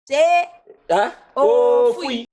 Se. Ha? Oh, fui.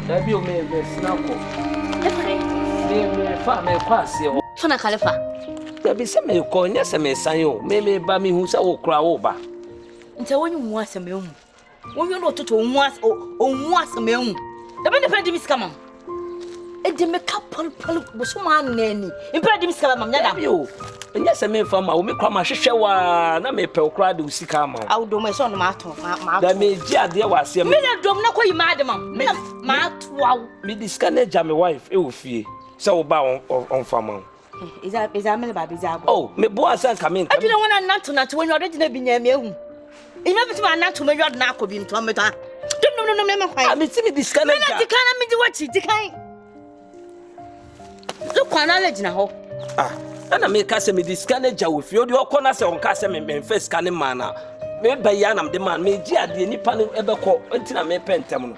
Dabi o me me sinako. Efere. Me me fa me kwa se o. Fana kalefa. Dabi se me ko nya se me san o. Me me ba me hu se wo kura wo ba. Nta wonyi mu asem e mu. wonyo no toto onwu as onwu asɛm ehu dɛbɛ ne pɛ di mi sika mam edi mi ka pɔlpɔl bosom anani mpɛ di mi sika mam nyada mi o ɛnyɛ sɛ memfa ma wo me kora mahwehwɛ wo a na mepɛ wo koraa de wo sika ama wo awodom ɛsɛ ɔno maato na megye adeɛ wɔ aseɛ me na dom na kɔyi maade ma mena maatoa wo mede sika no agya me wife ɛwɔ fie sɛ woba ɔmfa ma wo Oh, me boy asa nka me nka. Adwene ho na nanto nanto wanya ɔde gyina bi nya me ahu. Ina bi tuma nanto me yɔd na akɔ bi ntɔn me ta. Dum dum dum me kwan. Ami timi di sika na. Mena di kan na me di wachi di kan. Lu kwan na le gyina hɔ. Ah, ana me ka sɛ me di sika na gya wo fi. Odi ɔkɔ na sɛ ɔnka sɛ me me mfa sika ne ma na. Me ba ya na me de ma me gye adeɛ nipa no ɛbɛkɔ ntina me pɛ ntɛm no.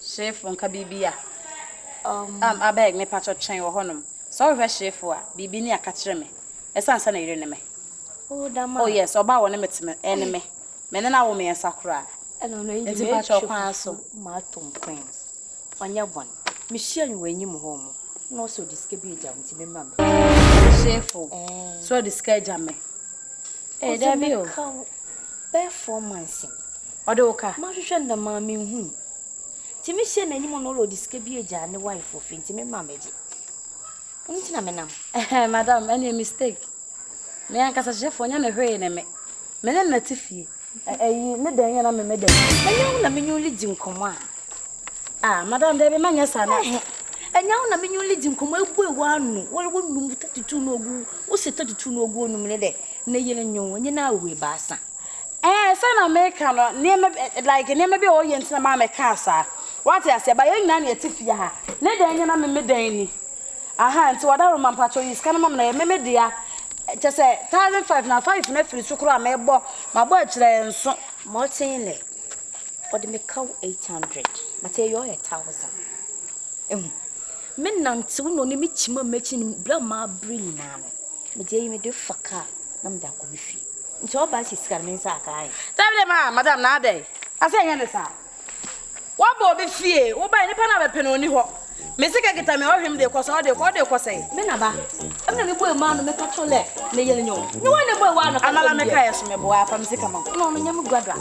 Hyeefo nka biribi a. Um, abeg, mepakyɛw twɛn wɔ hɔnom. Sɛ wohwehwɛ hyeefo a, biribi ni a ka kyerɛ me. Ɛsan sɛ ne yere ne me. Oh, dam a. Oh, yes, ɔbaa a ɔne me te me, ɛne me. Me ne no awo mmiɛnsa koraa. Ɛna ɔno ayi Nti me pakyɛw atwi kwan so. fufu ma atom Queens. Ɔnyɛ bɔn. Mehyia no wɔ anim hɔ mo, na ɔse ɔde sika bi agya wo nti memmra me. Hyeefo, Eh. sɛ ɔde sika agya me. Ee, Ɔdze dabi me o. ka wo bɛyɛ four months ni. Ɔdze wo ka? Mahwehwɛ no dɛm ara mennhun no. Ntsi mehyia no enyim no ɔwɔ ɔdze sika bi egyaa ne wife wɔ fie ntsi me mma mbɛgye. Ɔno ntsi na menam. Ɛhɛn, madam, ɛno yɛ mistake. Me ankasa hyehyɛfoɔ, ɔnyɛ me hwee ne me. Me ne no na ɛte fie. Eyi ne dɛn yɛ na me me dɛn? Ɛnyɛ wo na me nyun lidzi nkɔmɔ a? Ah, madam, dɛbi, ma nyɛ saa na. Ɛhɛ, ɛnyɛ wo na me nyun lidzi nkɔmɔ ebue w'ano, wɔre wo num tatutu no ogu, wo se tatutu no ogu onum ne dɛ, ne yere nyun, enye no awu ebaasa. Ɛɛ, sɛ na me ka no, nneɛma bi, like, nneɛma bi a ɔyɛ nti na maa me kaa saa. Wate aseɛ, ba yɛn nyinaa na yɛte fie ha. Ne dɛn yɛ na me me dɛn ni? Ahaa nti wadaroma mpakyɛw yi sika no ma me na ɛyɛ me me dea kyɛ sɛ thousand five na five no afiri so koraa mebɔ mabɔ akyerɛ nso. Morten nɛ ɔde me kaw eight hundred but ɛyɛ ɔyɛ thousand ehu me nantew na ɔne me kyima m'akyi no bra maa bere nyinaa no mede ayi mede fa kaa na mede akɔ me fie nti ɔba si sika no me nsa akaa he. Dabi dabi maa madam na adɛ asɛ ɛnyɛ ne saa. Waba obi fie, wobae, nipa no a mepɛ no onni hɔ. Me sika kita me a ɔhwɛ me de kɔ sɛn, ɔde kɔ, ɔde kɔ sɛn? Me na ba, ɛmɛ na me bue maa no, me ka kyerɛ lɛ, ne yere nyɛ o. Ne wa na bue waa no ka kyerɛ me deɛ. Amala me ka yɛ so me boa, fa me sika ma o. No, no nyɛ me guado a.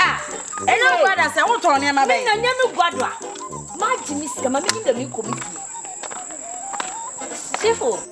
Ah! Ɛnyɛ wo guado a sɛ, wo tɔn nneɛma bɛn? Me na nyɛ me guado a, ma gye me sika, ma me nim dɛ me kɔ me fie. Sifo.